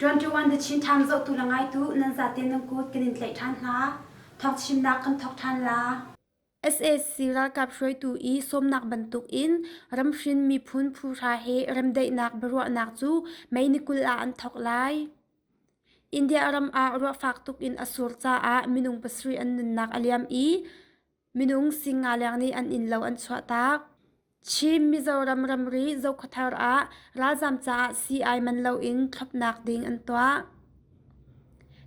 21 the Chin Time zohtu la ngaitu nan zate nan kut kan in tlaih ṭhan hna. Thawng chimnak kan thawk ṭhan la. sac ralkap hruaitu i sawmnak bantukin ramhrin miphun phuhra he remdaihnak biaruahnak cu mei ni kul ah an thawk lai. India ram ah ruah fak tuk in a sur caah minung pasarih an nunnak a liam i minung singaleng nih an innlo an chuahtak. Chin Mizoram ramri Zokhua thar ah ralzam caah sii-ai man loin thlopnak ding an tuah.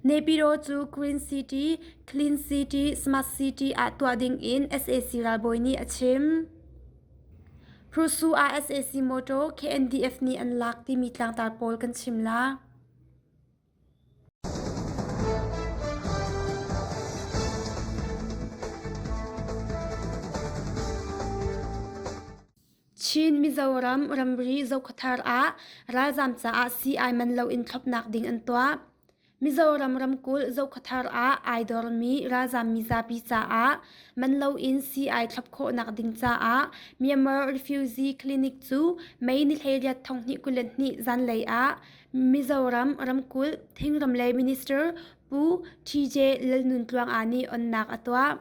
Nepiro cu Green City, Clean City, Smart City ah tuah ding in SAC ralbawi nih a chim. Prusu ah SAC motor KNDF nih an lak timi tlangtar pawl kan chim la. Chin Mizoram ramri Zokhawthar ah ralzaam caah sii-ai man loin thlopnak ding an tuah. Mizoram ramkulh Zokhawthar ah ai dormi ralzaam mizapi caah man loin sii-ai thlop khawhnak ding caah Myanmar Refugee Clinic cu May ni hleiriat thonghnih kulen hnih zanlei ah Mizoram ramkulh thingram lei minister Pu Tj Lalnuntluanga nih onnak a tuah.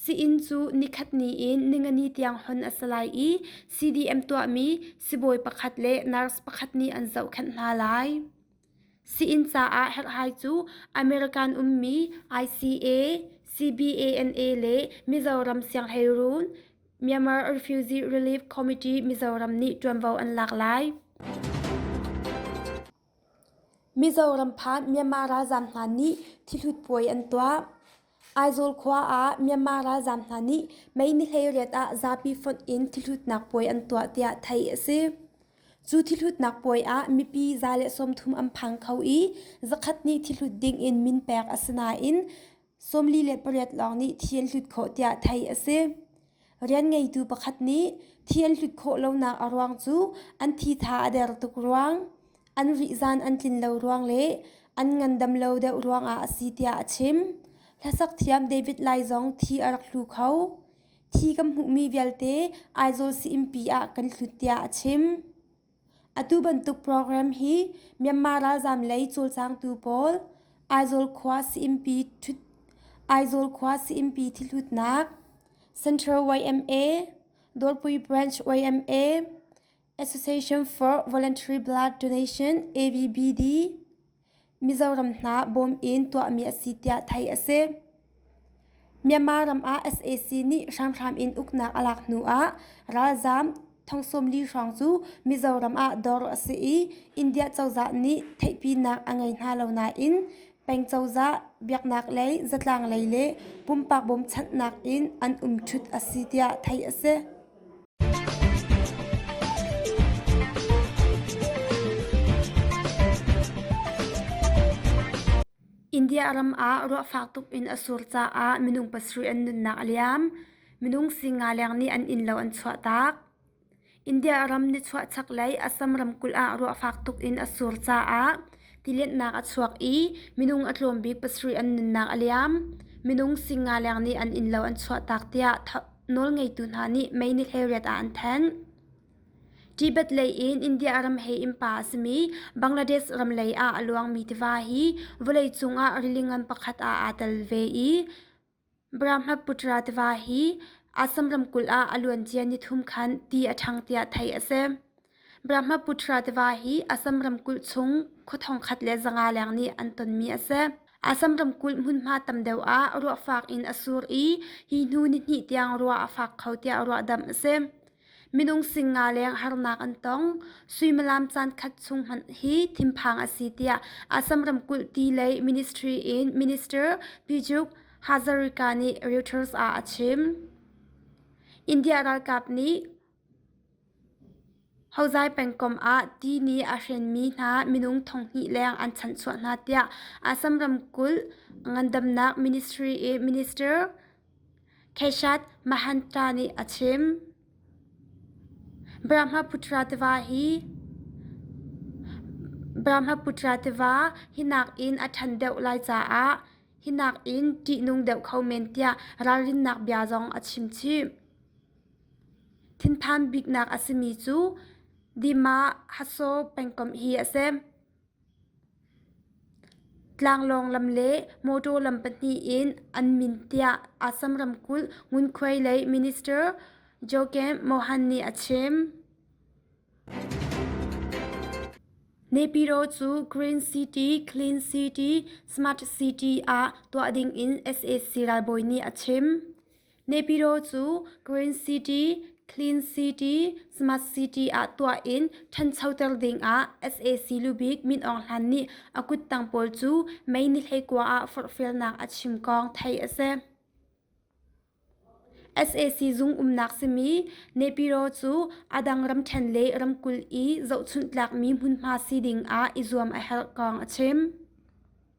Sii-inn cu nikhat ni in ningani tiang hon a si lai i CDM tuahmi sibawi pakhat le nurse pakhat nih an zohkhenh hna lai. Sii-inn caah herhhai cu American ummi ICA, CBANA le Mizoram sianghleiruun Myanmar Refugee Relief Committee Mizoram nih ṭuanvo an lak lai. Mizoram phan Myanmar ralzaam hna nih thihlut puai an tuah. Aizawl khua ah Myanmar ralzaam hna nih May ni hleiriat ah zapi fonh in thihhlutnak puai an tuah tiah theih a si. Cu thihhlutnak puai ah mipi za le sawmthum an phang kho i zakhat nih thihlut ding in min pek a si nain sawmli le pariat lawng nih thi an hlut khawh tiah theih a si. Rian ngeitu pakhat nih thi an hlut khawh lonak a ruang cu an thitha a der tuk ruang, an rihzan an tlin lo ruang le an ngandam lo deuh ruangah a si tiah a chim. Hlasak thiam David Lai zong thi a rak hlu kho. Thi kan hmuhmi vialte Aizawl Sii-innpi ah kan hlut tiah a chim. Atu bantuk program hi Myanmar ralzaam lei cawlcangtu pawl Aizawl khua sayinpi ṭhut Aizawl khua sayinpi thihlutnak Central YMA Dawrpui Branch YMA Association for Voluntary Blood Donation AVBD Mizoram hna bawm in tuahmi a si tiah theih a si. Myanmar ram ah sac nih hramhram in uknak a lak hnu ah ralzaam thongsawmli hrawng cu Mizoram ah dawr a si i India cozah nih theihpinak a ngei hna lo nain peng cozah biaknak lei zatlang lei le pumpak bawmchanhnak in an um ṭhut a si tiah theih a si. India ram ah ruah fak tuk in a sur caah minung pasarih an nunnak a liam. Minung singa leng nih an innlo an chuah taak. India ram nichuah chaklei Assam ramkulh ah ruah fak tuk in a sur caah tilennak a chuak i minung a tlawm bik pasarih an nunnak a liam. Minung singa leng nih an innlo an chuah taak tiah Nawlngeitu hna nih meinik he riat ah an thenh. Tibet lei in India ram he innpa a simi Bangladesh ram lei ah a luangmi tiva hi vawleicung ah rili ngan pakhat ah aa tel ve i Brahmaputra tiva hi Assam ramkulh ah a luancia ni thum khan ti a ṭhang tiah theih a si. Brahmaputra tiva hi Assam ramkulh chung khua thongkhat le zanga leng nih an tonmi a si. Assam ramkulh hmunhma tam deuh ah ruah fak in a sur i hi hnu nihnih tiang ruah a fak kho tiah ruahdamh a si. Minung sing nga leng harnak an tong. Suimilam caankhat chung hmanh hi thinphang a si tiah Assam ramkulh ti lei ministry in Minister Pyjuk Hazarika nih Reuters ah a chim. India ralkap nih Hozai pengkomh ah ti nih a hrenmi hna minung thonghnih leng an chanhsuah hna tiah Assam ramkulh ngandamnak minister Keshath Mahantra nih a chim. Brahmaputra tiva hi nakin a ṭhan deuh lai caah hi nakin ṭihnung deuh kho men tiah ralrinnak bia zong a chimchih. Thinphan biknak a simi cu Dima Haso pengkomh hi a si. Tlanglawng lam le mawṭaw lam pahnih in an min tiah Assam ramkulh ngunkhuai lei minister Joaquim Mohan nih a chim. Nepiro cu Green City, Clean City, Smart City ah tuah dingin sac ralbawi nih a chim. Nepiro cu Green City, Clean City, Smart City ah tuah in ṭhanchoter dingah sac lubik Min Aung Hlan nih a kuttang pawl cu May ni hleikua ah forhfialnak a chim kong theih a si. sac zung umnak simi Nepiro cu a dang ramṭhen le ramkulh i zohchunhtlakmi hmunhma si dingah i zuam a herh kong a chim.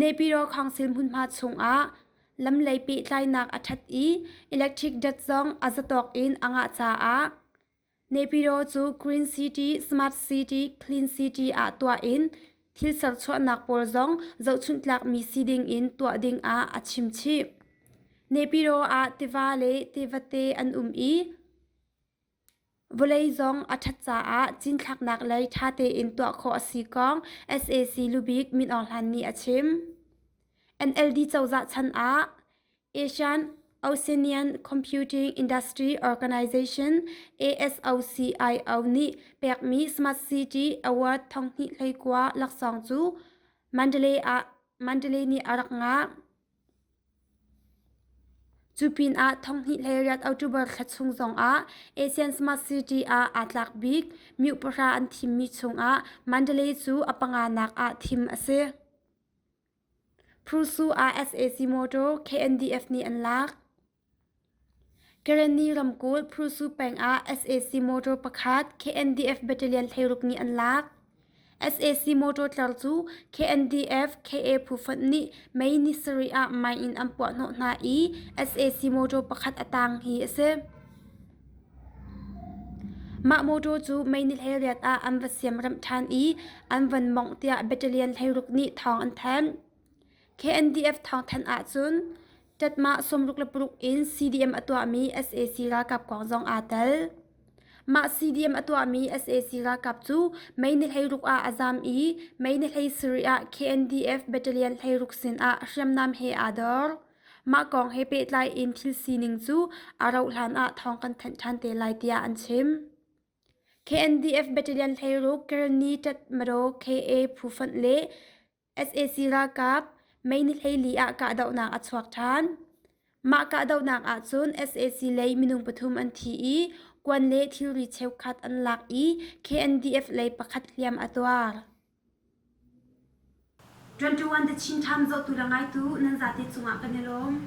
nepiro khawngsir hmunhma chungah lam lei pehtlainak a ṭhat i electric dat zong a zatawk in a ngah caah nepiro cu green city smart city clean city ah tuah in thil serchuahnak pawl zong zohchunhtlakmi si ding in tuah ding ah a chimchih nepiro ah tiva le tivate an um i Vawlei zong a ṭhat caah cinthlaknak lei ṭha tein tuah khawh a si kong sac lubik Min Aung Hlaing nih a chim. NLD cozah chan ah Asian Oceanian Computing Industry Organization ASOCIO nih pekmi Smart City Award thonghnih hleikua laksawng cu Mandalay nih a rak ngah. Cu pinah thawnghnih le riat October thla chung zongah Asian Smart City ah aa tlak bik miuk pahra an thimmi chungah Mandalay cu a panga nak ah thim a si. Pursu ah SAC Motor KNDF nih an lak. Kareni ramkulh Pursu peng ah sac motor pakhat KNDF battalion hleiruk nih an lak. sac motor tlar cu KNDF KA phu fonh nih May ni sarih ah mine in an puahhnawh hna i sac motor pakhat a tang hi a si. Mah motor cu May ni hleinriat ah an va siamremh ṭhan i an van mawngh tiah battalion hleiruk nih thawng an thanh. KNDF thawngthanh ahcun ṭatmah sawmruk le paruk in CDM a tuahmi sac ralkap kong zong aa tel. Mah CDM a tuahmi sac ralkap cu Mei ni hleiruk ah a zaam i Mei ni hlei sarih ah KNDF battalion hleiruk sinah hriamnam he aa dor. Mah kong he pehtlai in thil sining cu a rauhhlan ah thawng kan thanh ṭhan te lai tiah an chim. KNDF battalion hleiruk Kerni Tat Mado KA Phufan le sac ralkap meinighleili ah kahdohnak a chuak ṭhan. Mah kahdohnak ahcun sac lei minung pathum an thi i kuan le thilri cheukhat an lak i KNDF lei pakhat hliam a tuar. 21 The Chin Times zawtu le ngaitu nan zate cungah kan i lawm.